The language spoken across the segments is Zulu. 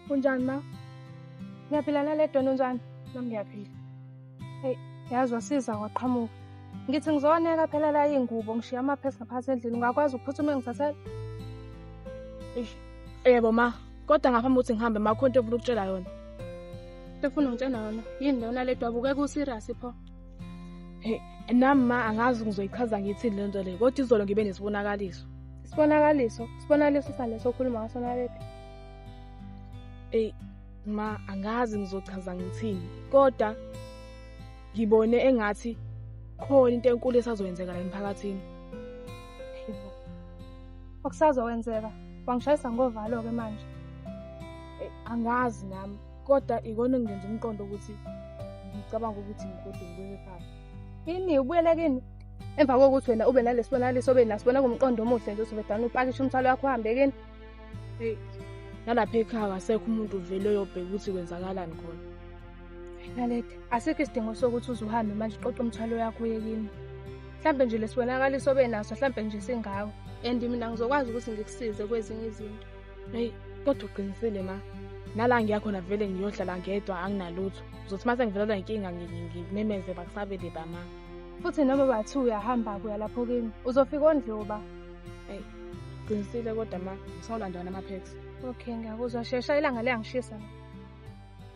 Unjani ma? Ngiyaphila naledwa unjani? Nami ngiyaphila. Hey, yazi wasiza waqhamuka. Ngithi ngizoneka phela la ingubo ngishiya amaphepha ngaphansi endlini ungakwazi ukuphuthuma ngithathele? Eish, yebo ma. kodwa ngaphambi ukuthi ngihambe makho into ofuna ukutshela yona efuna ngitshela yona yini lona le dwabuke ku-serious pho hey nami ma angazi ngizoyichaza ngithini le nto le kodwa izolo ngibe nesibonakaliso isibonakaliso isibonakaliso saleso okhuluma ngaso naleti eyi ma angazi ngizochaza ngithini kodwa ngibone engathi khona into enkulu esazoyenzeka la emphakathini okusazokwenzeka wangishayisa ngovalo-ke manje eh, angazi nami kodwa ikona ngenza umqondo ukuthi ngicabanga ukuthi ngigode ngibuyele ekhaya ini ubuyele kini emva kokuthi wena ube nalesibonakaliso obe nasibona kumqondo omuhle nje usubedana upakishe umthwalo wakho uhambe kini eyi nalapha ekhaya kasekho umuntu uvele uyobheka ukuthi kwenzakalani khona Naledi, asikho isidingo sokuthi uze uhambe manje uqoqe umthwalo yakho uye kimi. Mhlampe nje lesibonakaliso obenaso mhlampe nje singawo. And mina ngizokwazi ukuthi ngikusize kwezinye izinto. Hey, kodwa uqinisile ma. Nala ngiyakhona vele ngiyohlala ngedwa anginalutho. Uzothi mase ngivelelwa inkinga ngimemeze bakusabele ba ma. Futhi noma bathi uyahamba kuya lapho kimi, uzofika ondliwa ba. Hey, qinisile kodwa ma, ngisawulanda wena ama-packs. Okay, ngiyakuzwa shesha ilanga liyangishisa.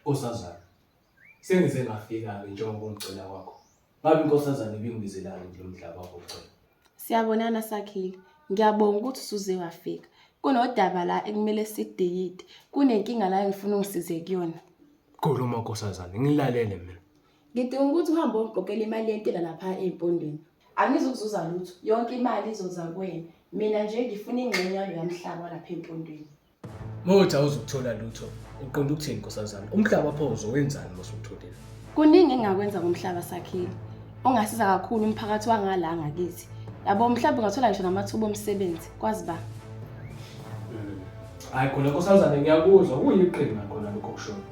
Nkosazana, sengize ngafika-ke njengoba ungicela kwakho. Ngabe inkosazana ibingibizelani kulo mdlaba wakho cela? Siyabonana Sakhile. Ngiyabonga ukuthi usuze wafika. Kunodaba la ekumele sideyide. Kunenkinga la engifuna ungisize kuyona. Khuluma nkosazana, ngilalele mina. Ngidinga ukuthi uhambe ongigqokele imali yentela lapha empondweni. Angizukuzuza lutho. Yonke imali izoza kuwena. Mina nje ngifuna ingxenye yalo yamhlaba lapha empondweni. Mawuthi awuzukuthola lutho, uqonda ukuthini nkosazana? Umhlaba pho uzowenzani uma usutholile? Kuningi engingakwenza ngomhlaba sakhile. Ongasiza kakhulu umphakathi wangala ngakithi. Yabo mhlawumbe ungathola ngisho namathuba omsebenzi, kwazi ba. Hayi khona nkosazana ngiyakuzwa kuyiqhinga khona lokho kushoyo.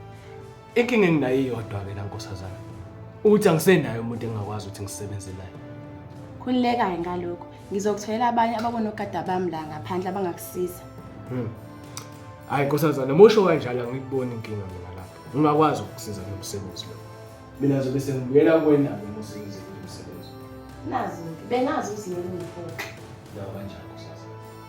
Inkinga enginayo iyodwa ke la nkosazana. Ukuthi angisenayo umuntu engingakwazi ukuthi ngisebenze naye. Khululeka-ke ngalokho. Ngizokutholela abanye ababonogada bami la ngaphandle abangakusiza. Hmm. Hayi nkosazana, musho kanjalo angikuboni inkinga mina lapho. Ungakwazi ukusiza ngomsebenzi lo. Mina zobe sengibuyela kuwena ke musebenzi umsebenzi. Nazi-ke, bengazi ukuthi yini ngiphoxa. Nawa kanjalo nkosazana.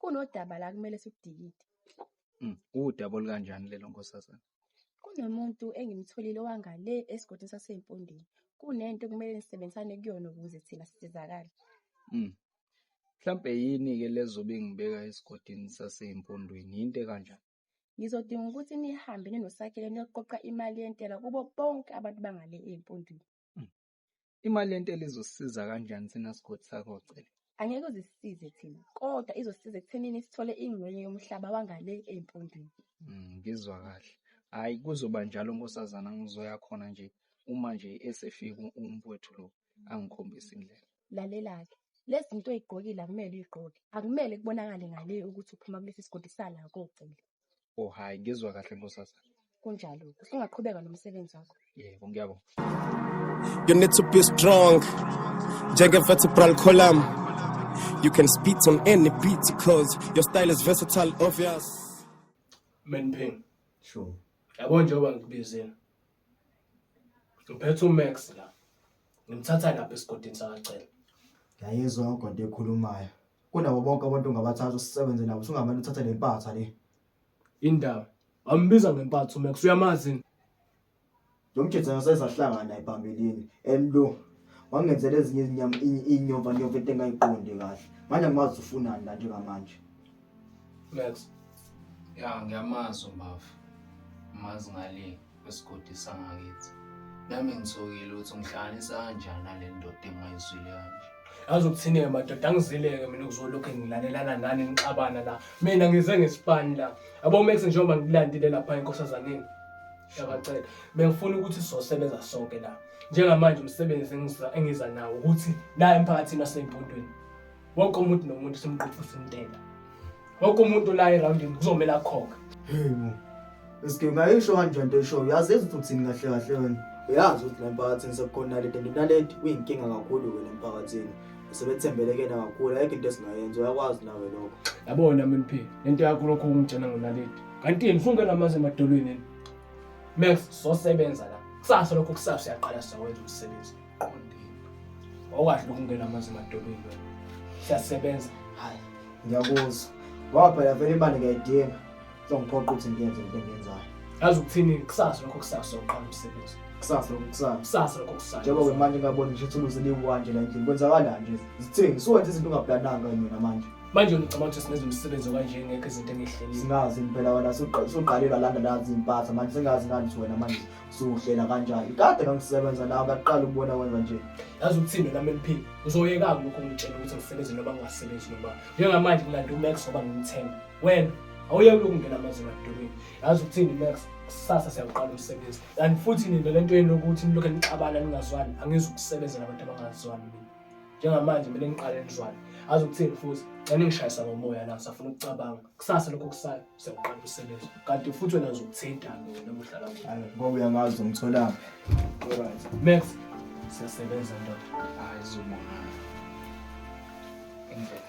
Kunodaba la kumele sikudikide. Mm, Udaba olukanjani lelo nkosazana? Kunomuntu engimtholile owangale esigodini saseMpondeni. Kunento kumele nisebenzisane kuyona ukuze thina sisizakale. Mm. Mhlampe yini-ke lezobe ngibeka esigodini saseMpondweni? Yinto ekanjani? Ngizodinga ukuthi nihambe ninoSakhele niyoqoqa imali yentela kubo bonke abantu bangale eMpondweni. Imali yentela izosisiza kanjani thina sigodi sakho Cele? Angeke uzisisize thina, kodwa izosisiza ekuthenini sithole ingxenye yomhlaba wangale eMpondweni. Mm, Ngizwa kahle. Hayi kuzoba njalo nkosazana ngizoya khona nje uma nje esefika u- umfowethu lo angikhombisa indlela. Lalela-ke, lezi zinto oy'gqokile akumele uy'gqoke. Akumele kubonakale ngale ukuthi uphuma kulesi sigodi sala koCele. Oh hayi ngizwa kahle nkosazana. Kunjalo. Usungaqhubeka nomsebenzi wakho. Yebo ngiyabonga. You need to be strong. Njenge vertebral column. You can spit on any beat because your style is versatile obvious. Menpeng. Sure. Yabo njengoba ngikubizile. Ngiphethe uMax la. Ngimthatha lapha esigodini sakacela. Yayizwa ugodo ekhulumayo. Kunabo bonke abantu ungabathatha usebenze nabo sungamane uthathe le mpatha le. Indaba. Ambiza ngempatha uMax uyamazi. yini? Lo mjitha ngasezahlangana naye phambilini. Emlo wangenzela ezinye izinyama inyova nyova into engayiqondi kahle. Manje angimazi ufunani la njengamanje. Max. Ya ngiyamazi uMafu. Mazi ngale kwesigodi sangakithi. Nami ngisokile ukuthi ungihlanganisa kanjani nale ndoda engayizwile kanje. Yazi ukuthini-ke madoda angizileke mina ukuzolokhu ngilalelana nani nixabana la. Mina ngize ngesipani la. Yabo Max njengoba ngikulandile lapha enkosazaneni. Ngiyabacela. Bengifuna ukuthi sizosebenza sonke la. Njengamanje umsebenzi engiza engiza nawo ukuthi la emphakathini waseMpondweni. wonke umuntu nomuntu simqophisa umntela wonke umuntu la erawundini kuzomele akhokhe heyibo eske ngayisho kanjani into eshoyo yazi ezithi uthini kahle kahle wena uyazi ukuthi la mphakathini sekukhona lento nalento uyinkinga kakhulu wena emphakathini sebethembele kena kakhulu ayikho into esingayenza uyakwazi nawe lokho yabona mnp lento yakho lokho ungitshena ngonaledi kanti yini funke namazi emadolweni max sosebenza la kusasa lokho kusasa uyaqala siyawenza umsebenzi qondile awukwazi ukungena amanzi emadolweni wena siyasebenza hayi ngiyakuzwa ngoba phela vele imali ngiyayidinga songiphoqa ukuthi ngiyenze into engiyenzayo yazi ukuthini kusasa lokho kusasa soqala umsebenzi kusasa lokho kusasa kusasa lokho kusasa njengoba manje ngabona ngisho thuluzi liwanje la endlini kwenzakalani nje zithini suwenza izinto ungaplananga mina manje manje ngicabanga ukuthi singenza umsebenzi okanje ngekho izinto engihlelile singazi impela wena suqalelwa landa nazi impatha manje singazi ngani wena manje siwuhlela kanjani kade ngangisebenza nawo kaqala ukubona wenza nje yazi ukuthini nami eliphila uzoyeka-ke lokhu ngitshela ukuthi ngisebenze noma ngingasebenzi noma njengamanje ngilanda umax ngoba ngimthemba wena awuyeke lokhu ngena amazima edolweni yazi ukuthini max kusasa siyawuqala umsebenzi kanti futhi nina le nto yenu yokuthi nilokhu nixabana ningazwani angizi ukusebenzela abantu abangazwani mina njengamanje kumele niqale nizwane azi ukuthini futhi xa ningishayisa ngomoya la safuna ukucabanga kusasa lokho kusayo siyawuqala usebenza kanti futhi wena uzokuthinta mina muhlala hayi ngoba uyamazi umtholaphi alright max siyasebenza ndoda hayi zobona indlela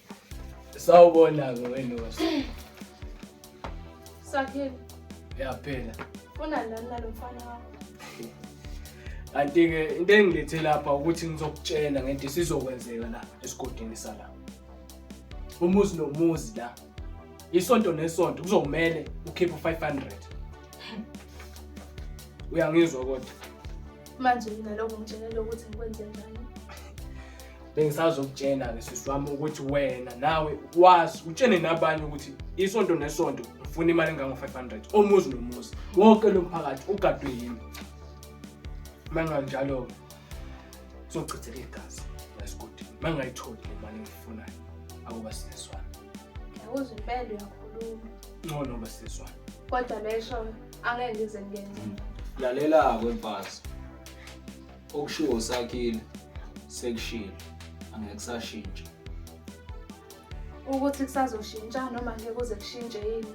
Sawubona-ke welosi. Sakhile. Ya phela. Funa nani nalo mfana wakho? Kanti-ke into engilethe lapha ukuthi ngizokutshela ngento esizokwenzeka la esigodini sala. Umuzi nomuzi la. Isonto nesonto kuzomele ukhiphe 500. Uyangizwa kodwa? Manje mina lokho ngitshelele ukuthi ngikwenze njani? bengisazokutshena-ke sisi wami ukuthi wena nawe wazi utshene nabanye ukuthi isonto nesonto ngifuna imali engango-five hundred omuzi nomuzi wonke lo mphakathi ugadwe yimi uma nganjalo-ke sochitheka igazi lasigodi uma ngingayitholi le mali engiyifunayo akuba sisizwana uze impende uyakhuluma ngcono uba sisizwana kodwa lesho angeke ngize ngenze lalela-ke mfazi okushiwo usakhile sekushilo angeke kusashintsha ukuthi kusazoshintsha noma ngeke kuze kushintshe yini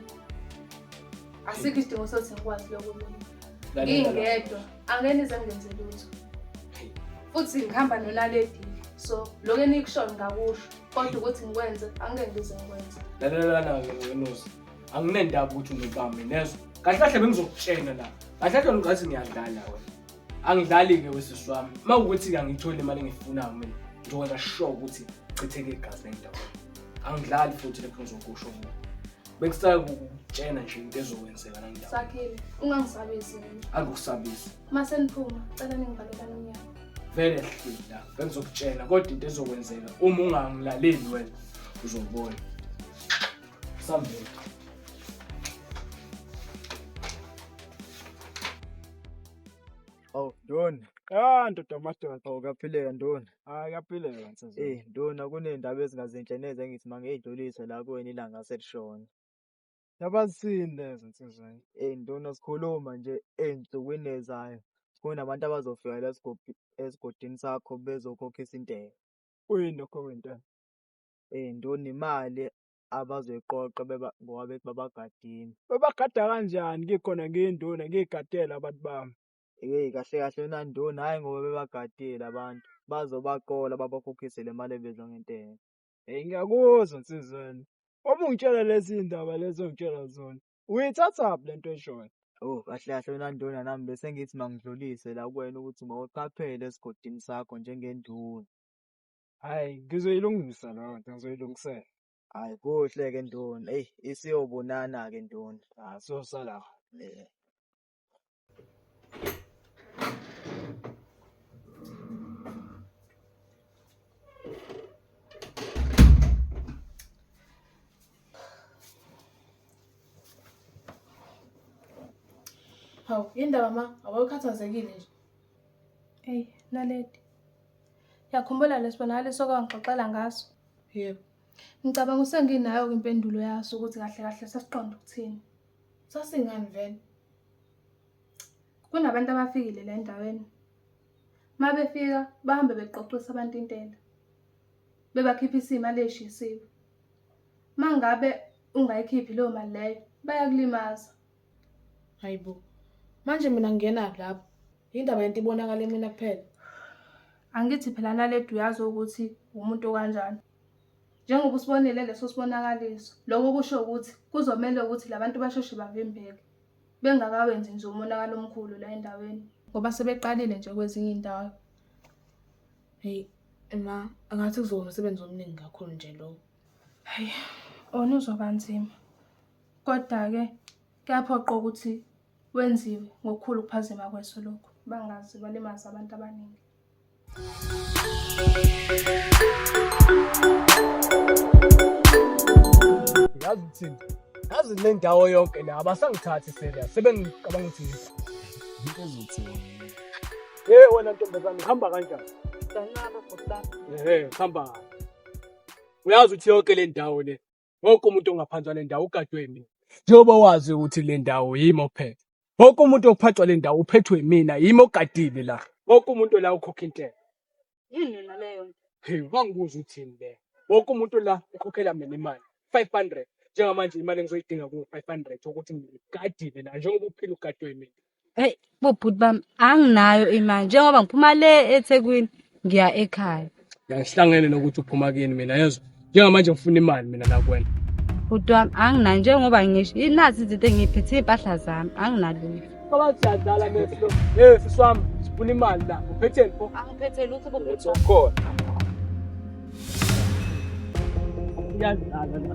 asikho isidingo sokuthi ngikwazi lokulunga ngingedwa angeke nize ngenze lutho futhi ngihamba nonaledi so lokho enikushoyo ngakusho kodwa ukuthi ngikwenze angeke ngize ngikwenze lalelana-ke ngenusa anginendaba ukuthi unobami nezwa kahle kahle bengizokutshena la kahle kahle ngathi ngiyadlala wena angidlali-ke wesisi wami uma ukuthi-ke angiyitholi imali engiyifunayo mina ngizokwenza sure ukuthi chitheke igazi lendawo angidlali futhi lekho ngizokusho mina bengisacela ukutshena nje into ezokwenzeka nandawo sakhile ungangisabisi mina angikusabisi uma seniphuma cela ningivalelane umnyango vele hlila bengizokutshena kodwa into ezokwenzeka uma ungangilaleli wena uzobona sambeka Awu ndoni. Ah ndoda amadoda. Awu kaphileka ndoni. Hayi kaphileka nsizwa. Eh ndoni akunendaba ezingazinhle neze engithi mangeyidlulise la kuwena ilanga selishona. Yabazini lezo nsizwa. Eh ndoni asikhuluma nje ensukwini ezayo. Kunabantu abazofika la sigodi esigodini sakho bezokhokhisa intela. Uyini lokho wentela? Eh ndoni imali abazoyiqoqa beba ngoba bethi babagadile. Bebagada kanjani ngikhona ngiyinduna ngiyigadele abantu bami? Hey kahle kahle wena nduna hhayi ngoba bebagadile abantu bazobaqola babakhokhise le mali ebizwa ngentela. Hey ngiyakuzwa nsizwa wena. Uma ungitshela lezi ndaba lezi ongitshela zona uyithathaphi le nto eshoyo? Oh kahle kahle wena nduna nami bese ngithi mangidlulise la kuwena ukuthi mawuqaphele esigodini sakho njengenduna. Hayi, ngizoyilungisa leyo nto, ngizoyilungisela. Hayi, kuhle-ke nduna. Eyi, isiyobonana-ke nduna. Ah, sosala. Eh. Hawu, yini ndaba ma? Awukhathazekile nje. Eyi, Naledi, Yakhumbula lesibonakaliso owangixoxela ngaso? Yebo. Ngicabanga usenginayo ke impendulo yaso ukuthi kahle kahle sasiqonda ukuthini. Sasingani vele? Kunabantu abafikile la endaweni. Uma befika bahambe beqoqisa abantu intela. Bebakhipha isimo aleshisiwe. Uma ngabe ungayikhiphi leyo mali leyo bayakulimaza. Hayibo. Manje mina ngingena lapho. Indaba yento ibonakala emina kuphela. Angithi phela naledi uyazi ukuthi umuntu kanjani. Njengoba usibonile leso sibonakaliso, lokho kusho ukuthi kuzomele ukuthi labantu basheshe bavimbeke bengakawenzi nje umonakalo omkhulu la endaweni ngoba sebeqalile nje kwezinye indawo. Hey, ma, angathi kuzoba umsebenzi omningi kakhulu nje lowo. Hayi, ona uzoba nzima. Kodwa-ke Kuyaphoqa ukuthi wenziwe ngokukhulu ukuphazima kweso lokhu bangazi kwalimaza abantu abaningi. Yazi ukuthini? Yazi le ndawo yonke la abasangithathi serious sebengicabanga ukuthi yini. Into ezothiwa. Hey wena ntombazane uhamba kanjani? Sanana bhuti. Eh, hamba. Uyazi ukuthi yonke le ndawo le wonke umuntu ongaphansi kwale ndawo ugadwe yimina njengoba wazi ukuthi le ndawo yimi ophethe wonke umuntu ophathwa le ndawo uphethwe yimina yimi ogadile la wonke umuntu la ukhokha intela yini yona leyo nto hey wangibuza uthini le wonke umuntu la ukhokhela mina imali 500 njengamanje imali engizoyidinga ku 500 ukuthi ngigadile la njengoba uphila ugadwe yimina Hey bobhuti bami anginayo imali njengoba ngiphuma le eThekwini ngiya ekhaya. Ngihlangene nokuthi uphuma kini mina yezwa. Njengamanje ngifuna imali mina nakwena. Bhuti wami anginayo njengoba ngisho inazi izinto engiyiphethe iy'mpahla zami anginalutho. Ngoba siyadlala meslo. Hey sisi wami sifuna imali la. Uphetheni pho? Angiphethe lutho bobhuti wami. Khona. Siyadlala la.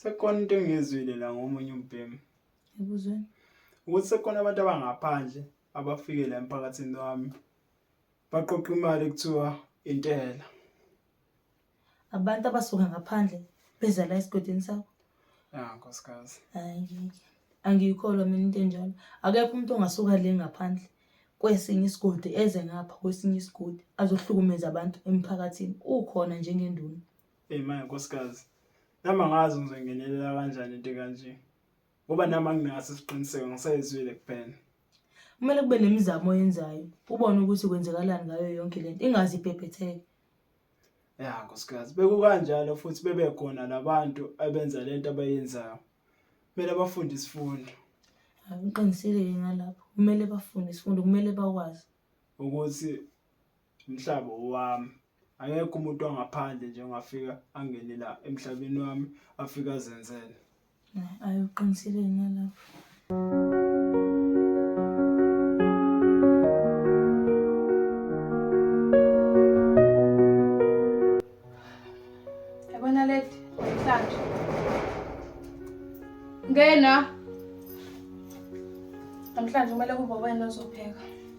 Sekukhona into engiyizwile la ngomunye umbhemu. Ebuzweni. Ukuthi sekukhona abantu abangaphandle abafike la emphakathini wami. Baqoqa imali kuthiwa intela. Abantu abasuka ngaphandle beza la esigodini sakho. Ya nkosikazi. Hayi ngeke. Angiyikholwa mina into enjalo. Akekho umuntu ongasuka le ngaphandle kwesinye isigodi eze ngapha kwesinye isigodi azohlukumeza abantu emphakathini. Ukhona njengenduna. Hey manje nkosikazi, nami angazi ngizongenelela kanjani into kanje. Ngoba nami anginaso isiqiniseko ngisayizwile kuphela. Kumele kube nemizamo oyenzayo, ubone ukuthi kwenzekalani ngayo yonke lento, ingaze ibhebhetheke. Ya nkosikazi, bekukanjalo futhi bebekhona labantu abenza lento abayenzayo. Kumele bafunde isifundo Hayi uqinisile-ke ngalapho. Kumele bafunde isifundo, kumele bakwazi. ukuthi Mhlaba owami. Akekho umuntu wangaphandle nje ongafika angene la emhlabeni wami afike azenzele. Ayi uqinisile yena lapho. Yabona lady, mhlanje. Ngena. Namhlanje kumele kube wena ozopheka.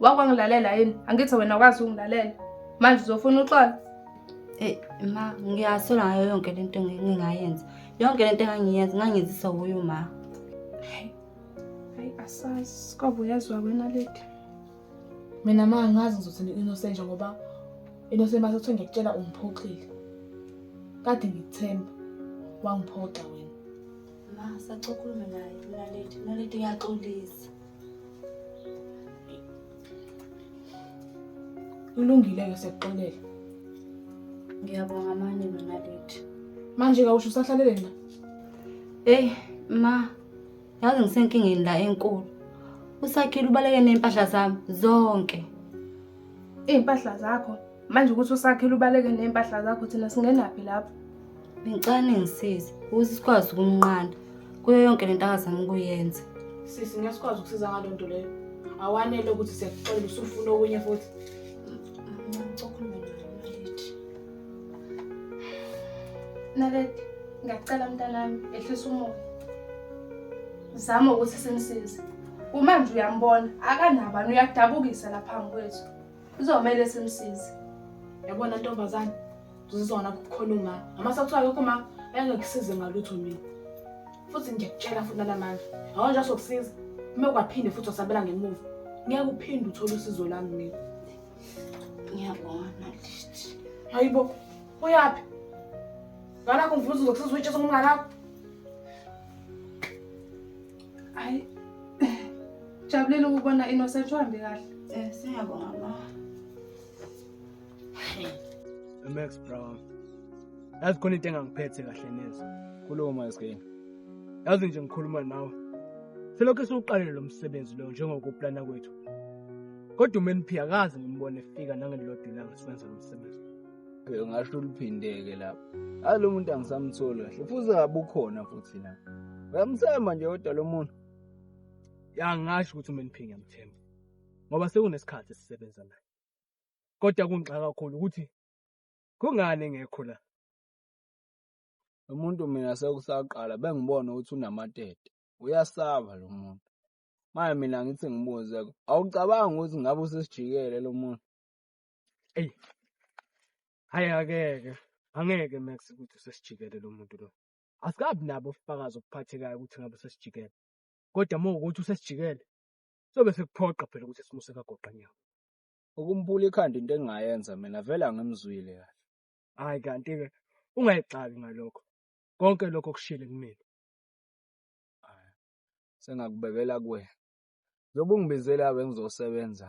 wakwangilalela yini angithi wena wazi ungilalela manje uzofuna uxola Eh ma ngiyasola ngayo yonke lento ngingayenza. Yonke lento engangiyenza ngangizisa kuyo ma. Hey. Hey asazi kwabe uyazwa wena lady. Mina ma ngazi ngizothi innocent ngoba innocent mase kuthiwa ngiyakutshela ungiphoxile. Kade ngikuthemba wangiphoxa wena. Ma sacokhulume naye mina lady, mina lady ngiyaxolisa. Kulungile-ke siyakuxolela. Ngiyabonga manje nonaledi. Manje kawusho usahlalele na? Eyi ma, yazi ngisenkingeni la enkulu. Usakhile ubaleke ney'mpahla zami zonke. iy'mpahla zakho manje ukuthi usakhele ubaleke ney'mpahla zakho thina singenaphi lapho ngicela ningisize ukuthi sikwazi ukumnqanda kuyo yonke le nto akazama ukuyenza sisi ngeke sikwazi ukusiza ngaloo nto leyo awanele ukuthi siyakuxolela usufuna okunye futhi naledi ngiyacela mntanami ehlisa umoya zama ukuthi simsize kumanje uyambona akanabani uyadabukisa la phambi kwethu kuzomele simsize yabona ntombazane uzizona kukhona uma ngamase kuthiwa akekho uma engekusize ngalutho mina futhi ngiyakutshela futhi nalamandla yabona nje asokusiza uma kwaphinde futhi wasabela ngemuva ngeke uphinde uthole usizo lami mina ngiyabona lithi hayi bo uyaphi ngalakho ngivuza uzokusiza uyitshesa kumnganakho Hayi. Jabulile ukubona Innocent uhambe kahle. Eh siyabonga ma. Max Brown. Yazi khona into engangiphethe kahle neze. Kulowo maskini. Yazi nje ngikhuluma nawe. Selokhu siwuqalile lo msebenzi lo njengokuplana kwethu. Kodwa uMeniphi akazi ngimbone efika nangelilodwa ilanga siwenza lo msebenzi. ngasho oluphindeke lapho alo muntu angisamtholi kahle futhi ngabe ukhona futhi la uyamthemba nje kodwa lo muntu yangasho ukuthi uma niphinga mthemba ngoba sekunesikhathi sisebenza naye kodwa kungixaka kakhulu ukuthi kungani engekho la lo muntu mina sekusaqala bengibona ukuthi unamatete uyasaba lo muntu manje mina ngithi ngibuze awucabangi ukuthi ngabe usesijikele lo muntu Eyi, hhayi akeke, angeke Max ukuthi usesijikele lo muntu lo. Asikabi nabo ubufakazi obuphathekayo ukuthi ngabe usesijikele. Kodwa uma ukuthi usesijikele, sobe sekuphoqa phela ukuthi simuse kagoqa nyawo. Ukumbula ikhanda into engingayenza mina vele angimzwile kahle. Hhayi kanti-ke ungayixaki ngalokho. Konke lokho kushile kumina. Sengakubekela kuwena. Njengoba ungibizela-ke ngizosebenza,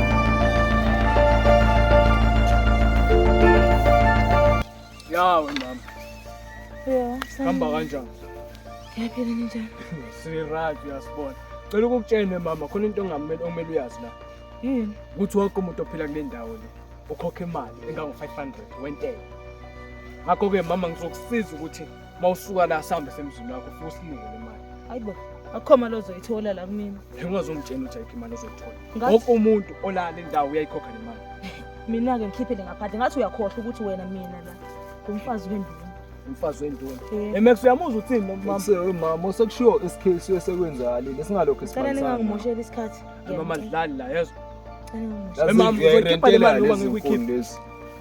Yawe mama. Yebo. Hamba kanjani? Ngiyaphila ninjani? Siraj uyasibona. Cela ukukutshene mama khona into ongamele okumele uyazi la. Yini? Ukuthi wonke umuntu ophila kule ndawo le ukhokha imali engango 500 wentela. Ngakho ke mama ngizokusiza ukuthi mawusuka la sambe semzini wakho futhi usinikele imali hayibo akhoma lozoyithola la kumina ungazongitshela ukuthi ayikho imali ozoyithola wonke umuntu olala indawo uyayikhokha le mali mina-ke ngikhiphele ngaphandle ngathi uyakhohlwa ukuthi wena mina la ngumfazi wenduna umfazi wenduna emex uyamuzwa uthini nomamama sekushiwo isikhisi esekwenzakalile singalokho isicela ningangimosheli isikhathi mama dlali la yezwa mama uzokhipha le mali uma ngikuykhipha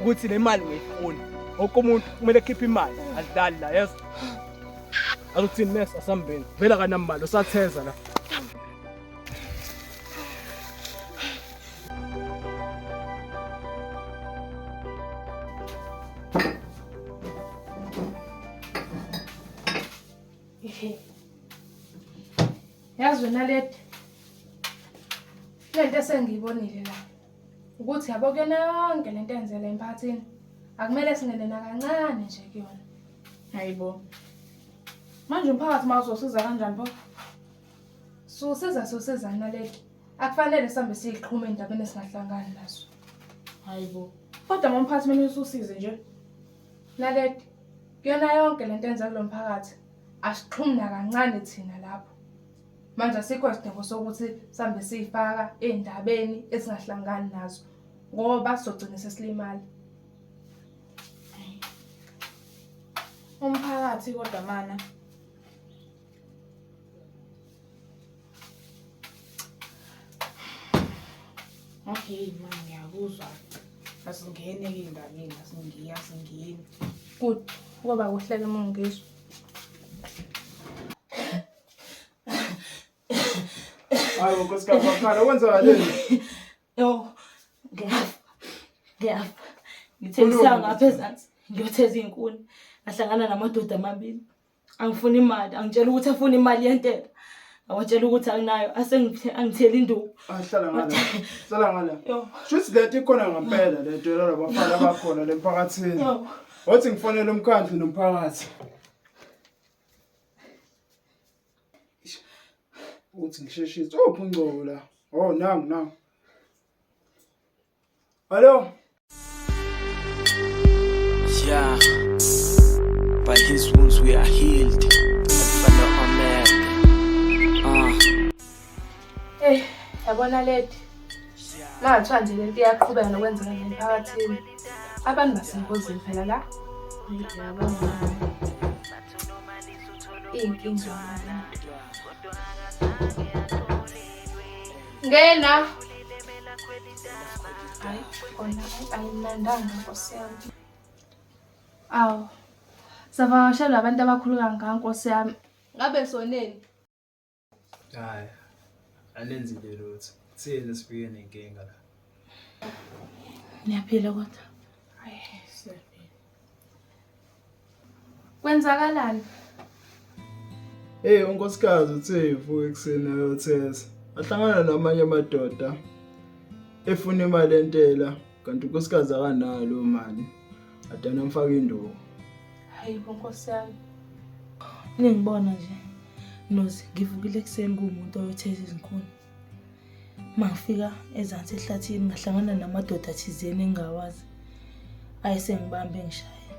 ukuthi le mali ngiyifuna wonke umuntu kumele ekhiphe imali adlali la yeso aluthini mesa asambeni vela kanambalo satheza la yazi wena leti le nto esengiyibonile la ukuthi yabo kuyona yonke le nto enzela emphakathini akumele singene nakancane nje kuyona hayibo manje umphakathi uma uzosiza kanjani pho susiza sosizani naleki akufanele sihambe siyiqhuma endabeni esingahlangani nazo hayibo kodwa uma umphathi mina ususize nje naleki kuyona yonke le nto enza kulo mphakathi asixhumi nakancane thina lapho Manje asikho isidingo sokuthi sihambe siyifaka ey'ndabeni esingahlangani nazo ngoba sizogcina sesilimala. Umphakathi kodwa mana. Okay ma ngiyakuzwa. Asingene ke endabeni, asingiyi, asingeni. Good. Kuba kuhleke uma ungizwa. Hayi unkosikazi wakhala kwenzakaleni? Yo. Ngiyafa. Ngiyafa. Ngithengisa ngapha ezansi. Ngiyotheza izinkuni. Ngahlangana namadoda amabili. Angifuni imali, angitshela ukuthi afuna imali yentela. Awatshela ukuthi anginayo, asengithe angitheli induku. Ahlala ah, ngala. Sala ngala. Yo. Shuthi lento ikhona ngempela lento yalabo bafana abakhona lemphakathini. Yo. Wathi ngifonele umkhandlu nomphakathi. ukuthi ngisheshise uphi ungcobo la oh nangu nangu hallo yeah by his wounds we are healed Eh, yabona lady. Mathiwa nje lento iyaqhubeka nokwenzeka nje emphakathini. Abantu basengozini phela la. Iy'nkinga. Ngena. Hayi, khona ayimnandanga nkosi yami. Awu. Savakashelwa abantu abakhulu kangaka nkosi yami. Ngabe soneni? Hhayi, alenzile lutho. Siyena sifike nenkinga la. Niyaphila kodwa? Hayi, siyaphila. Kwenzakalani? Hey, unkosikazi uthe evuka ekuseni ayotheza. Ahlangana namanye amadoda efuna imali entela kanti unkosikazi akanalo mali. Adana mfaka induku. Hayi bo Nkosi yami. Ningibona nje. Nozi ngivukile ekuseni kumuntu oyotheza izinkuni. Mangifika ezansi ehlathini ngahlangana namadoda athizeni engawazi. Ayesengibambe ngishaya.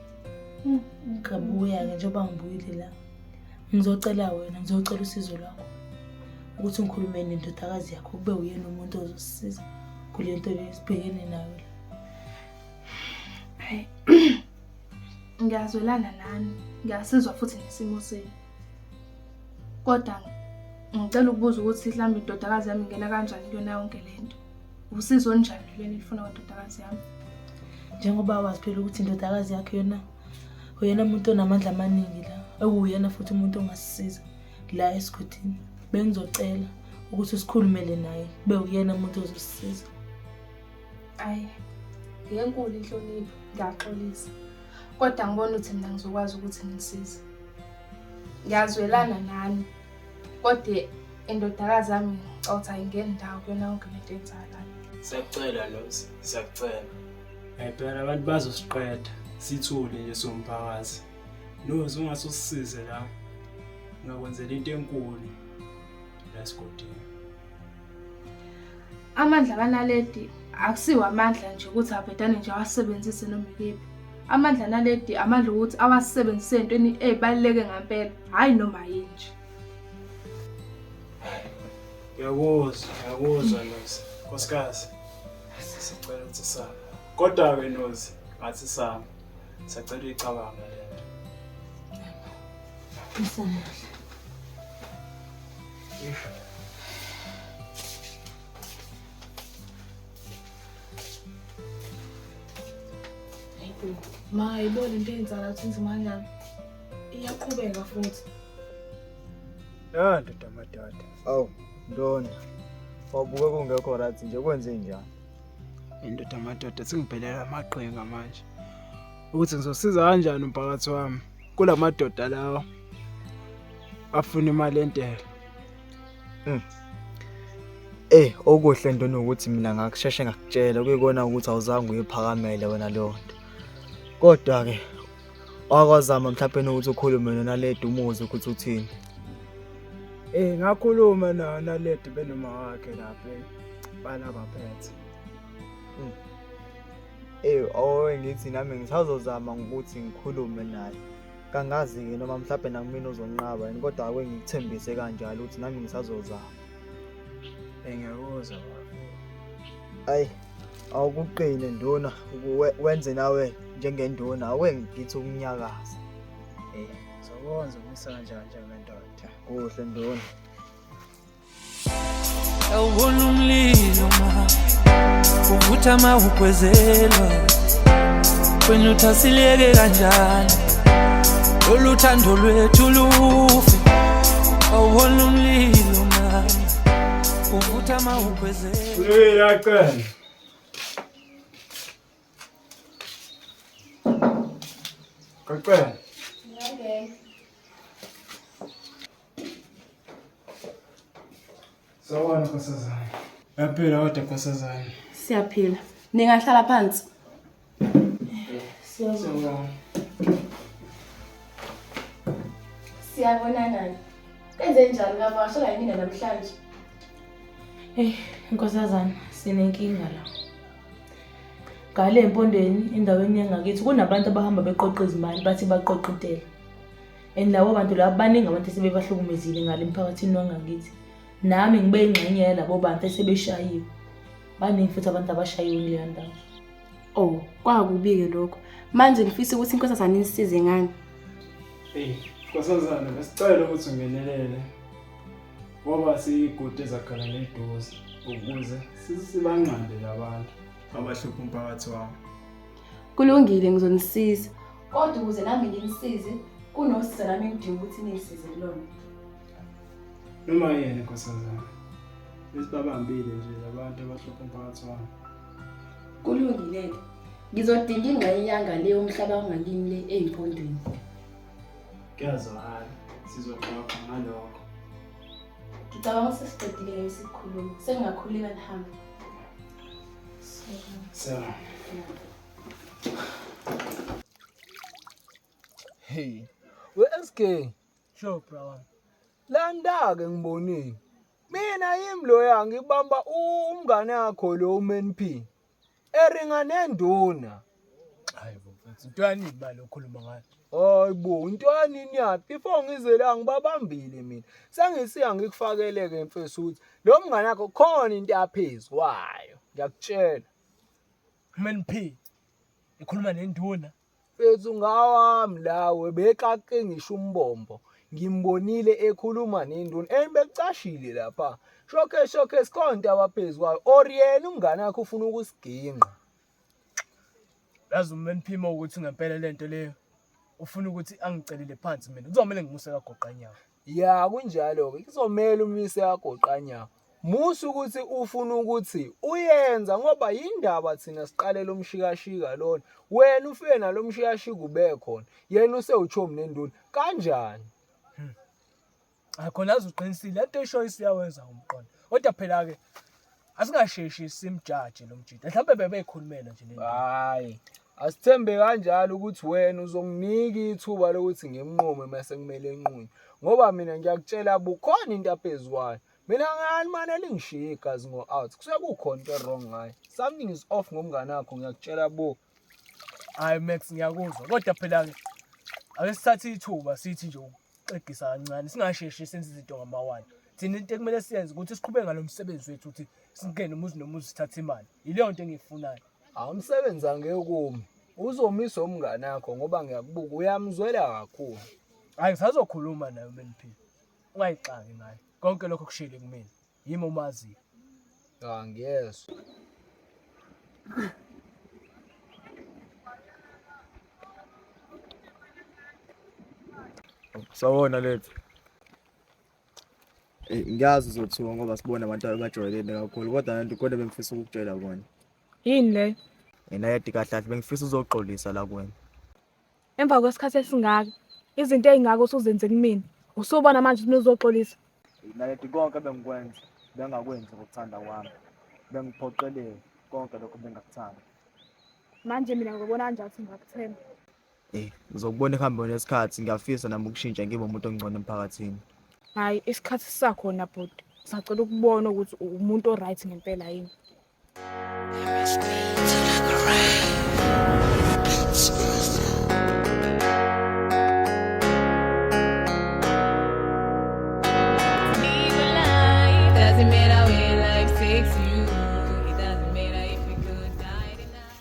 Hmm. Ngabuya ke njengoba ngibuyile la. Ngizocela wena, ngizocela usizo lwakho. Ukuthi ngikhulume nendodakazi yakho kube uyena umuntu ozosisiza kule nto le sibhekene nayo la. Hayi. Ngiyazwelana nani, ngiyasizwa futhi nesimo senu. Kodwa ngicela ukubuza ukuthi mhlawumbe indodakazi yami ingena kanjani kuyona yonke le nto. Usizo olunjani lweni elifuna kwendodakazi yami? Njengoba wazi phela ukuthi indodakazi yakhe yona uyena muntu onamandla amaningi la, ewuyena futhi umuntu ongasisiza la esigodini. Bengizocela ukuthi sikhulumele naye, kube uyena muntu ozosisiza. ayi ngenkulu inhlonipho ngiyaxolisa kodwa ngibona ukuthi mina ngizokwazi ukuthi ngisize ngiyazwelana nani kodwa indodakazi yami ngicotha ingeni ndawo kuyona yonke lento yenzayo lana siyakucela nosi siyakucela ayibhela abantu bazosiqeda sithule nje somphakathi nosi ungase usisize la ngakwenzela into enkulu la sigodini Amandla kaNaledi akusiwo amandla nje ukuthi abhedane nje awasebenzise noma ikephi. Amandla naledi amandla ukuthi awasebenzise entweni ezibaluleke ngempela, hayi noma yini nje. Ngiyakuzwa, ngiyakuzwa Nozi. Nkosikazi, sicela ukuthi same. Kodwa-ke Nozi, ngathi same. Sacela uyicabanga le nto. Ngisanele. ma ayiboni into eyenzala ukuthi inzima kanjani iyaqhubeka futhi ya ndoda madada awu ntoni wabuke kungekho right nje kwenze njani indoda madoda singibhelela amaqhinga manje ukuthi ngizosiza kanjani umphakathi wami kulamadoda lawo afuna imali entela mm. Eh okuhle into nokuthi mina ngakusheshe ngakutshela kuyikona ukuthi awuzange uyiphakamele wena leyo nto. Kodwa ke wakwazama mhlawumbe nokuthi ukhulume nona ledi umuzi ukuthi uthini. Eh ngakhuluma nayo naledi benoma wakhe lapha bala baphethe. Mm. eyi owe ngithi nami ngisazozama ngokuthi ngikhulume naye kangazi-ke noma mhlawumbe nakumina uzonqaba yini kodwa ake ngikuthembise kanjalo ukuthi nami ngisazozama engiyakuzwa ayi awukuqine nduna wenze nawe njengenduna awe ngithi ukunyakaza um zokwenza umisa kanjani njengendoda kuhle nduna Awubona umlilo ma uvutha ma ugwezelwa wena uthi asiliyeke kanjani lolu thando lwethu lufe awubona umlilo ma uvutha ma ugwezelwa uyacela Kacela. Sawubona nkosazane. Yaphila kodwa nkosazane. Siyaphila. Ningahlala phansi. Siyabonga. Siyabonana. Kenze njani lapha? Washo la yimina namhlanje. Eh, nkosazana sinenkinga la. Ngale empondweni endaweni yangakithi kunabantu abahamba beqoqa izimali bathi baqoqa intela. and labo bantu labo baningi abantu esebebahlukumezile ngale emphakathini wangakithi nami ngibe ingxenye yalabo bantu esebeshayiwe baningi futhi abantu abashayiwe kuleya ndawo oh kwakubi-ke lokho manje ngifisa ukuthi inkosazane inisize ngani eyi nkosazane besicela ukuthi ungenelele ngoba siyigude ezakhala neduze ukuze sibanqande labantu abahlupha umphakathi wami Kulungile ngizonisiza. Kodwa ukuze nami nginisize kunosiza nami ngidinga ukuthi nisize kulona. Noma yena nkosazana. Besibabambile nje labantu abahlupha umphakathi wami. Kulungile-ke. Ngizodinga ingxenye yanga le umhlaba ongakimi le eyimpondweni. Kuyazwakala. Sizoxoxa ngalokho. Ngicabanga ukuthi sesiqedile isikhulumo. Sengingakhuleka nihambe. Selam. Hey. We-SK. Sure, brother. Landa-ke ngibonile. Mina yimi loya ngibamba umngane wakho lo uMNP. Eringa nenduna. Hayi bo mfethu, into yani imali okhuluma ngayo. Hayi bo, into yani niyaphi? Before ngize la ngibabambile mina. Sengisiya ngikufakele ke mfethu ukuthi lo mngane wakho khona into yaphezu kwayo. Ngiyakutshela. Khulumeni phi? Ikhuluma nenduna. Mfethu ngawami lawe bexaqe ngisho umbombo. Ngimbonile ekhuluma nenduna. Ey bekucashile lapha. Showcase showcase khona into abaphezulu kwayo. Or yena umngane wakho ufuna ukusigingqa. yazi uma niphima ukuthi ngempela le nto leyo ufuna ukuthi angicelele phansi mina kuzomele ngimuse kagoqanyawo ya kunjalo-ke kuzomele umise kagoqanyawo musa ukuthi ufuna ukuthi uyenza ngoba yindaba thina siqalela umshikashika lona wena ufike nalo mshikashika ubekhona yena usewuchomi nenduna kanjani Hayi khona aze uqinisile lento eshoyo siyawenza umqondo. Kodwa phela ke asingasheshi simjaje lo mjita. Mhlawumbe bebeyikhulumela nje lento. Hayi. Asithembe kanjalo ukuthi wena uzonginika ithuba lokuthi ngimnqume mase kumele enqunywe. Ngoba mina ngiyakutshela bukhona into aphezukwayo. Mina ngani manje elingishiya igazi ngo-out. Kusuke kukhona into wrong ngayo. Something is off ngomngane wakho ngiyakutshela bo. Hayi Max ngiyakuzwa kodwa phela ke ake sithathe ithuba sithi nje ukuxegisa kancane singasheshi senze izinto ngamawani. Thina into ekumele siyenze ukuthi siqhubeke ngalo msebenzi wethu ukuthi singene umuzi nomuzi sithathe imali. Yileyo nto engiyifunayo. Hawu umsebenzi angeke ukumi. Uzomisa umngane wakho ngoba ngiyakubuka uyamzwela kakhulu. Hayi ngisazokhuluma naye uMeliphi. Ungayixaki ngaye. Konke lokho kushiyile kumina. Yimi omaziyo. Cha ngiyezwa. Sawona lethu. Eh, ngiyazi uzothuka ngoba sibona abantu abajwayelene kakhulu kodwa nantu kodwa bengifisa ukukutshela kona. Yini le? Yena yedi kahle kahle bengifisa uzoxolisa la kuwena. Emva kwesikhathi esingaka, izinto ezingaka usuzenze kumina. Usubona manje ukuthi uzoxolisa. Naledi konke bengikwenza, bengakwenzi ngokuthanda kwami. Bengiphoqeleke konke lokho bengakuthanda. Manje mina ngibona kanjani ukuthi ngingakuthemba? Eh, ngizokubona ekuhambeni kwesikhathi. Ngiyafisa nami ukushintsha ngibe umuntu ongcono emphakathini. Hhayi, isikhathi sisakhona bhuti. Ngisacela ukubona ukuthi umuntu o-right ngempela yini.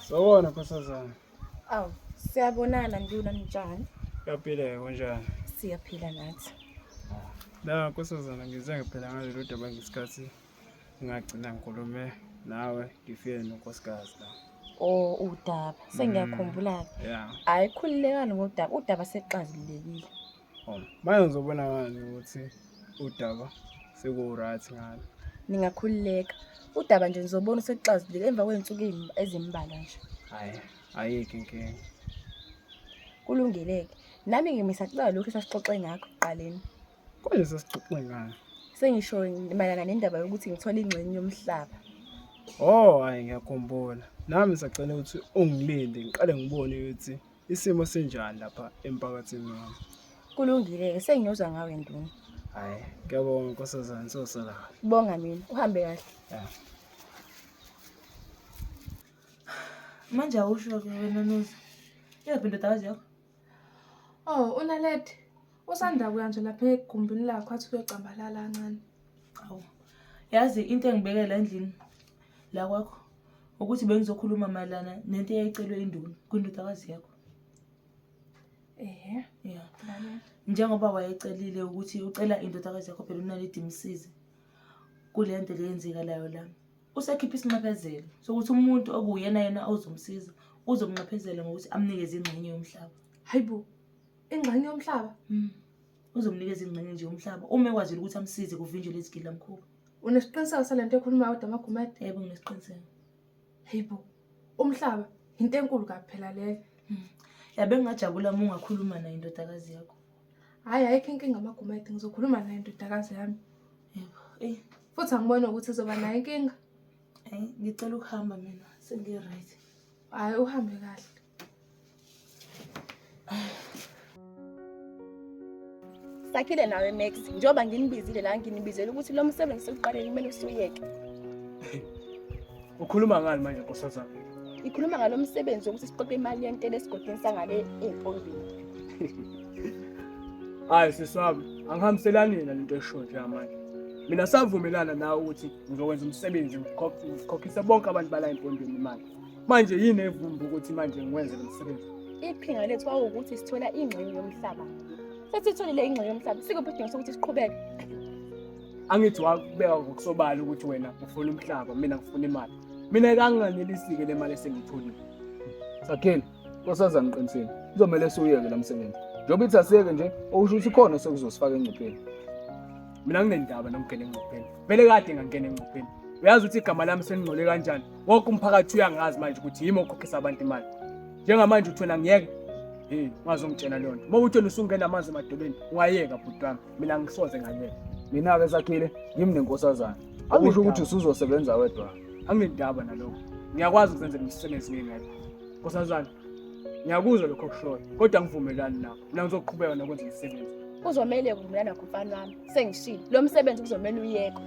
Sawona nkosazana. Awu, siyabonana nduna njani? Uyaphila kunjani? Siyaphila nathi. La nkosazana ngize ngiphela ngalelo daba ngesikhathi ngagcina ngikhulume nawe ngifike nonkosikazi la or udaba sengiyakhumbula-ke mm, yeah hhayi khululekani ngodaba udaba sekuxazululekile oh manje ngizobona ngani ukuthi udaba seku-right ngalo ningakhululeka udaba nje nizobona sekuxazululeke emva kwey'nsuku ey'm- ezimbalwa nje hhayi ayikho inkinga kulungeleke nami-ke mina sacala lokhu esasixoxe ngakho ekuqaleni Kwalesi sixoxe ngani? Sengisho mayelana nendaba yokuthi ngithole ingxenye yomhlaba. Oh, hayi ngiyakhumbula. Nami sacela ukuthi ungilinde ngiqale ngibone ukuthi isimo sinjani lapha emphakathini wami. Kulungile-ke sengiyoza ngawe nduna. Hayi, ngiyabonga nkosazane sosala. Bonga mina, uhambe kahle. Ya. Manje awusho-ke wena Noza. Iyaphi indodakazi yakho? Oh, uNaledi usanda kuya nje lapha egumbini lakho athi kuyocambalala kancane. Awu. Yazi into engibekela endlini la kwakho ukuthi bengizokhuluma mayelana nento eyayicelwe induna kwindodakazi yakho. Ehhe. Yeah. Bale. Njengoba wayecelile ukuthi ucela indodakazi yakho phela uNaledi imsize kule nto le yenzekalayo la. Usekhiphe isinxephezelo sokuthi umuntu okuwuyena yena ozomsiza uzomnxephezela ngokuthi amnikeze ingxenye yomhlaba. Hayibo, ingxenye yomhlaba? Mm. Uzomnikeza ingxenye nje yomhlaba uma ekwazile ukuthi amsize kuvinjwe lezi gilamkhulu. Unesiqiniseko sale nto ekhuluma kodwa amagumede? Yebo nginesiqiniseko. Hayibo, umhlaba yinto enkulu kabi phela leyo. Mm. Yabe ngingajabula uma ungakhuluma naye indodakazi yakho. Hhayi, ayikho inkinga amagumede, ngizokhuluma naye indodakazi yami. Yebo, eyi. Futhi angiboni ukuthi uzoba nayo inkinga. Hayi, ngicela ukuhamba mina, sengi-right. Hhayi, uhambe kahle. Sakhile nawe Max, njengoba nginibizile la nginibizele ukuthi lo msebenzi sekuqaleni kumele usuyeke. Ukhuluma ngani manje nkosazana? Ngikhuluma ngalo msebenzi wokuthi siqoqe imali yentela esigodini sangale empombini. Hayi sisi wami, angihambiselani yena lento esho nje manje. Mina savumelana nawe ukuthi ngizokwenza umsebenzi ngikhokh- ngikhokhise bonke abantu bala empondweni imali. Manje yini evumba ukuthi manje ngiwenze lo msebenzi? Iqhinga lethu kwawukuthi sithola ingxenye yomhlaba. Sesitholile ingxenye yomhlaba, sikuphi isidingo sokuthi siqhubeke? Angithi wakubeka ngokusobala ukuthi wena ufuna umhlaba, mina ngifuna imali. Mina kanganelisike le mali esengiyitholile. Sakhile. Nkosazana qinisile kuzomele siwuyeke la msebenzi njengoba ithi asiyeke nje okusho ukuthi khona sekuzosifaka engcupheni mina nginendaba nokungena engcupheni vele kade ngangena engcupheni uyazi ukuthi igama lami selingcole kanjani wonke umphakathi uyangazi manje ukuthi yimi okhokhisa abantu imali njengamanje uthona ngiyeke hey ungazongitshela leyo nto uma uthona usungena amanzi emadolweni ungayeka bhuti wami mina ngisoze ngayeka mina-ke sakhile yimi nenkosazana akusho ukuthi usuzosebenza wedwa anginendaba nalokho ngiyakwazi ukuzenzela imisebenzi ngingedwa Nkosazana, ngiyakuzwa lokho okushoyo, kodwa angivumelani nakho. Mina ngizoqhubeka nokwenza umsebenzi. Kuzomele ukuvumelana nakho mfana wami. Sengishilo. Lo msebenzi kuzomele uyekwe.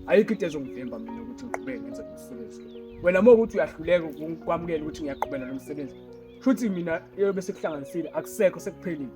Ayikho into ezongivimba mina ukuthi ngiqhubeke ngenze lo msebenzi. Wena uma ukuthi uyahluleka ukwamukela ukuthi ngiyaqhubeka nalo msebenzi, shuthi mina eyobe sekuhlanganisile akusekho sekuphelile.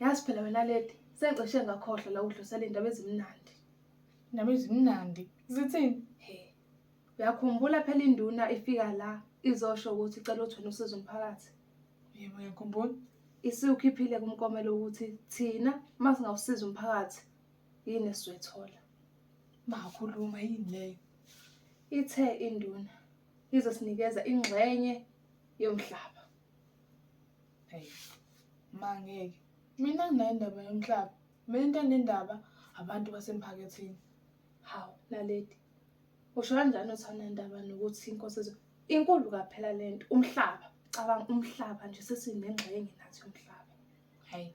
yazi phela wena lady sengicishe ngakhohlwa la udlusela iy'ndaba ezimnandi Indaba ezimnandi. Zithini? he uyakhumbula phela induna ifika la izosho ukuthi icela ukuthi wena usize umphakathi Yebo ngiyakhumbula. isiwukhiphile kumkomelo ukuthi thina uma singawusiza umphakathi yini esizoyithola Makhuluma yini leyo? ithe induna izosinikeza ingxenye yomhlaba Hey, mangeke. Mina nginayo indaba yomhlaba. Mina into enendaba abantu basemphakathini. Hawu, laleti. Usho kanjani uthi anendaba nokuthi inkosi ezo inkulu kaphela lento umhlaba. Cabanga umhlaba nje sesinengxenye nathi umhlaba. Hey.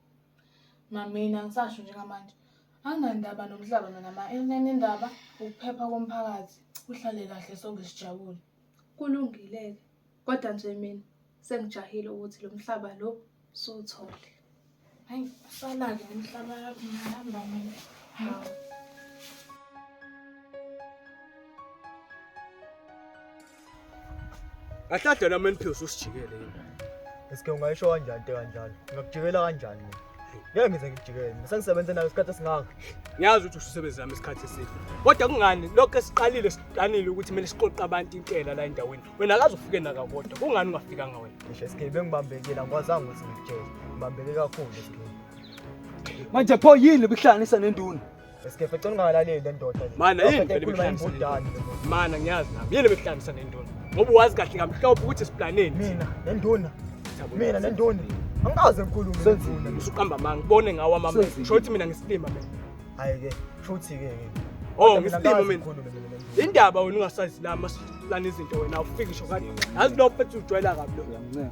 Mamina ngisasho njengamanje. Anginandaba nomhlaba mina ma enenendaba ukuphepha komphakathi. Uhlale kahle sonke sijabule. Kulungile-ke kodwa nje mina sengijahile ukuthi lo mhlaba lo suwuthole. Hhayi, usala-ke umhlaba yakho ngihamba mina. Hawu. Ahlahlelwa meniphiwe usijikele yini? Eske ungayisho kanjani into kanjalo? Ngakujikela kanjani mina? ngeke ngize ngijikele mina sengisebenze nayo isikhathi esingaka ngiyazi ukuthi ususebenzi nami isikhathi eside kodwa kungani lokho esiqalile siqanile ukuthi kumele siqoqe abantu intela la endaweni wena akaze ufike naka kodwa kungani ungafikanga wena ngisho esigebengu engibambekile angikwazanga ukuthi ngikutshele ngibambeke kakhulu esigebengu manje pho yini bihlanganisa nenduna Eskefe cela ungalaleli le ndoda le. Mana yini Awuphethe vele ekhuluma imihlanganiso imbudane le ndoda. Mana ngiyazi nami. Yini bekuhlangisa nendona? Ngoba wazi kahle kamhlophe ukuthi isiplaneni. Mina nenduna. Mina nenduna. Angikaze ngikhulume nenduna. Usuqamba manga ubone ngawo amama. Senzile. Shothi mina ngisilima mina. Hayi ke, futhi ke ke. Oh Mina ngisilima angikaze mina. ngikhulume mina nenduna. Indaba wena ungasazi lama siplana izinto wena awufiki ngisho kanje. Yazi lo mfethu ujwayela kabi lo. Uyamncenga.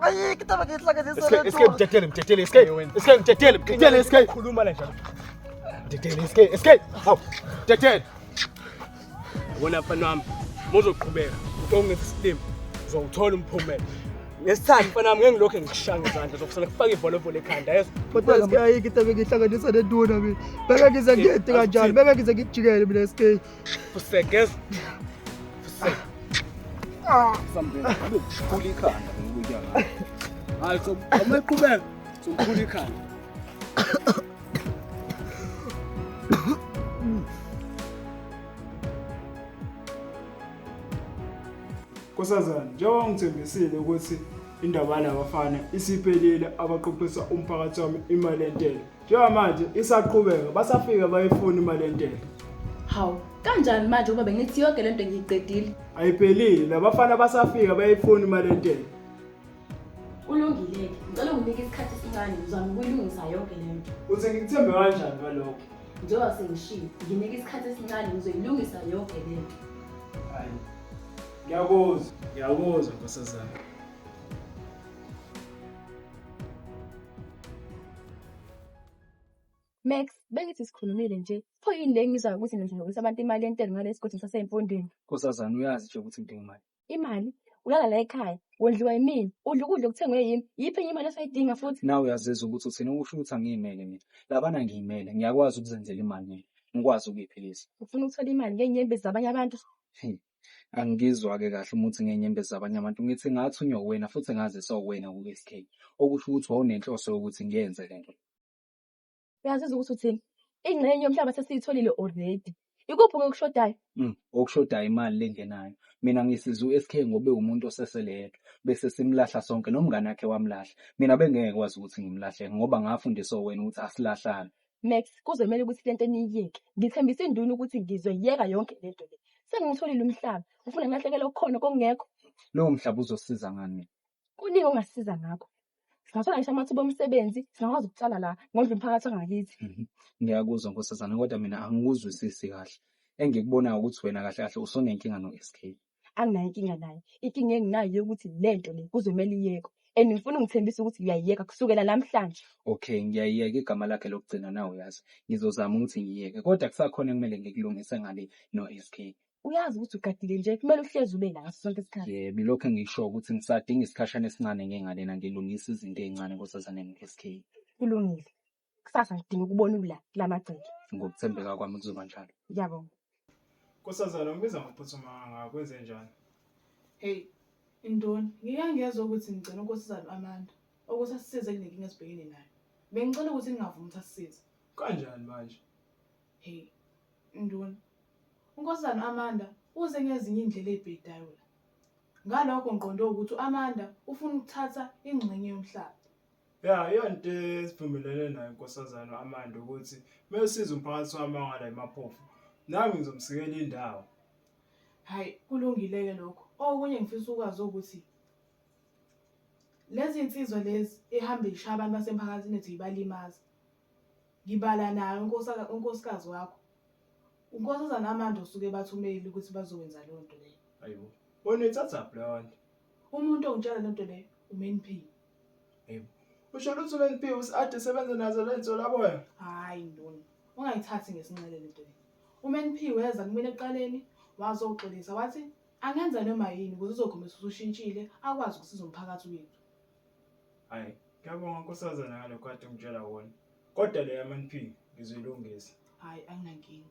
Ayikho manje ihlaka zesona. Esike esike mtetele mtetele esike. Esike mtetele mtetele esike. Khuluma la njalo. Mtetele esike esike. Hawu. Mtetele. Yabona mfana wami. Muzoqhubeka. Utonge system. Uzowuthola umphumela. Ngesithandi mfana wami ngengilokho ngikushanga izandla zokusala kufaka ivolovolo ekhanda yezo. Kodwa ngiyayikho into engihlanganisa nenduna mina. Beka ngize ngiyede kanjani? Beka ngize ngikujikele mina esike. Fusegeza. Fuse. Something. Ukhula ikhanda ngokuya ngayo. Hayi so uma iqhubeka sokhula ikhanda. Nkosazana, njengoba ngithembisile ukuthi indaba yalabafana isiphelile abaqoqisa umphakathi wami imali entela. njengamanje isaqhubeka basafike bayifuna imali yentela hawu kanjani manje uba bengithi yonke le nto ngiyiqedile ayiphelile labafana basafika bayifuna imali yentela ulungile-ke ngicela unginike isikhathi esincane ngizama ukuyilungisa yonke le nto uthi ngikuthembe kanjani ngalokho njengoba sengishilo nginike isikhathi esincane ngizoyilungisa yonke le nto hayi ngiyakuzwa ngiyakuzwa nkosazana Max, bengithi sikhulumile nje. Pho yini le ngizwa ukuthi nizokisa abantu imali yentela ngale esigodini saseyimfondweni. Nkosazana uyazi nje ukuthi ngidinga imali. Imali ulala la ekhaya, wondliwa yimina, udla ukudla okuthengwe yimi. Yiphi enye imali osayidinga futhi? Nawe uyazizwa ukuthi uthina usho ukuthi angiyimele mina. Labana ngiyimele, ngiyakwazi ukuzenzela imali mina. Ngikwazi ukuyiphilisa. Ufuna ukuthola imali ngeenyembezi zabanye abantu? Hey, Angizwa-ke kahle uma uthi ngenyembezi zabanye abantu, ngithi ngathunywa uwena futhi ngaziswa uwena ku-SK, okusho ukuthi wawunenhloso yokuthi ngiyenze le nto. Uyazizwa ukuthi uthini? Ingxenye yomhlaba sesiyitholile already. Ikuphi okushodayo? Mm, okushodayo imali lengenayo. Mina ngisiza u-SK ngobe umuntu osesele yedwa. Bese simlahla sonke nomngane wakhe wamlahla. Mina bengeke kwazi ukuthi ngimlahle ngoba ngafundiswa uwena ukuthi asilahlane. Max, kuzomele ukuthi lento niyiyeke. Ngithembisa induna ukuthi ngizoyeka yonke lento le. Sengiwutholile umhlaba. Ufuna ngilahlekele okukhona kokungekho. Lowo mhlaba uzosiza ngani mina? Kuningi ongasiza ngakho. Singathola ngisho amathuba omsebenzi, singakwazi ukutshala la, ngondle umphakathi wangakithi. Mhm. Ngiyakuzwa nkosazana kodwa mina angikuzwisisi kahle. Engikubonayo ukuthi wena kahle kahle usonenkinga no-SK. anginayo inkinga naye inkinga enginayo yokuthi le nto le kuzomele iyekwe and ngifuna ungithembisa ukuthi uyayiyeka kusukela namhlanje okay ngiyayiyeka igama lakhe lokugcina nawe uyazi ngizozama ukuthi ngiyiyeke kodwa kusakhona ekumele ngikulungise ngale no-sk uyazi ukuthi ugadile nje kumele uhlezi ube la ngaso sonke isikhathi yebo ilokhu engisho ukuthi ngisadinga isikhashana esincane ngengalena ngilungisa izinto ey'ncane nkosazane no-sk kulungile kusasa ngidinga ukubona ula kula magceke ngokuthembeka kwami kuzoba njalo ngiyabonga Nkosazana ngibiza ngokuphuthuma kangaka kwenze njani? Hey, intoni? Ngike ngezwa ukuthi ngicela unkosazana u-Amanda ukuthi asisize kunenkinga esibhekene nayo. Bengicela ukuthi ningavumi ukuthi asisize. Kanjani manje? Hey, intoni? Unkosazana u-Amanda uze ngezinye iy'ndlela ey'bhedayo la. Ngalokho ngiqonde ukuthi u-Amanda ufuna ukuthatha ingxenye yomhlaba. Ya iyonto esivumelene nayo inkosazane u-Amanda ukuthi uma esiza umphakathi wamangala imaphofu nami ngizomsikela indawo. Hhayi kulungile-ke lokho. Okunye engifisa ukwazi ukuthi lezi nsizwa lezi ehambe ishaya abantu basemphakathini ethu ibalimaza. Ngibala nayo unkosaka- unkosikazi wakho. Unkosazana Amanda osuke bathumeli ukuthi bazokwenza leyo nto leyo. Ayibo. Wena uyithathaphi leyo nto? Umuntu ongitshela lento leyo uMeniphi. Hey. Usho lutho lwempilo uSade sebenza nazo lensolaboya. Hayi ndoni. Ungayithathi ngesinxele lento le. UMNP weza kumina eqaleni wazoxolisa wathi angenza noma yini ukuze uzokhombisa ukuthi ushintshile akwazi ukusiza umphakathi wethu. Hayi, ngiyabonga nkosazana ngalokho kade ungitshela wona. Kodwa le yaMNP ngizilungisa. Hayi anginankinga.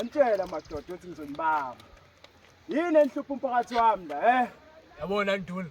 Ngantshela madoda ukuthi ngizonibamba. Yini enhlupha umphakathi wami la, eh? Yabona nduna.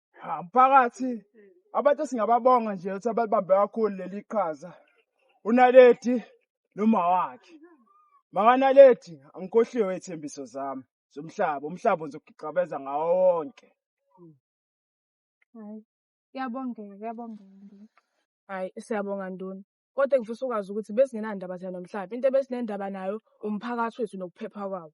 Ah, mphakathi abantu singababonga nje ukuthi abalibambe kakhulu leli qhaza unaledi noma wakhe makanaledi angikhohliwe iy'thembiso zami zomhlaba umhlaba uzogixabeza ngawo wonke Hayi, kuyabongeka, kuyabongeka ndini. Hayi, siyabonga nduna. Kodwa ngifisa ukwazi ukuthi besingenandaba thina nomhlaba. Into ebesinendaba nayo umphakathi wethu nokuphepha kwawo.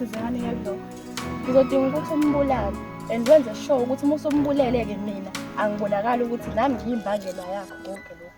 sizani ngalokho ngizodinga ukuthi umbulale and wenze sure ukuthi uma usumbulele-ke mina angibonakali ukuthi nami ngiyimbangela yakho konke lokhu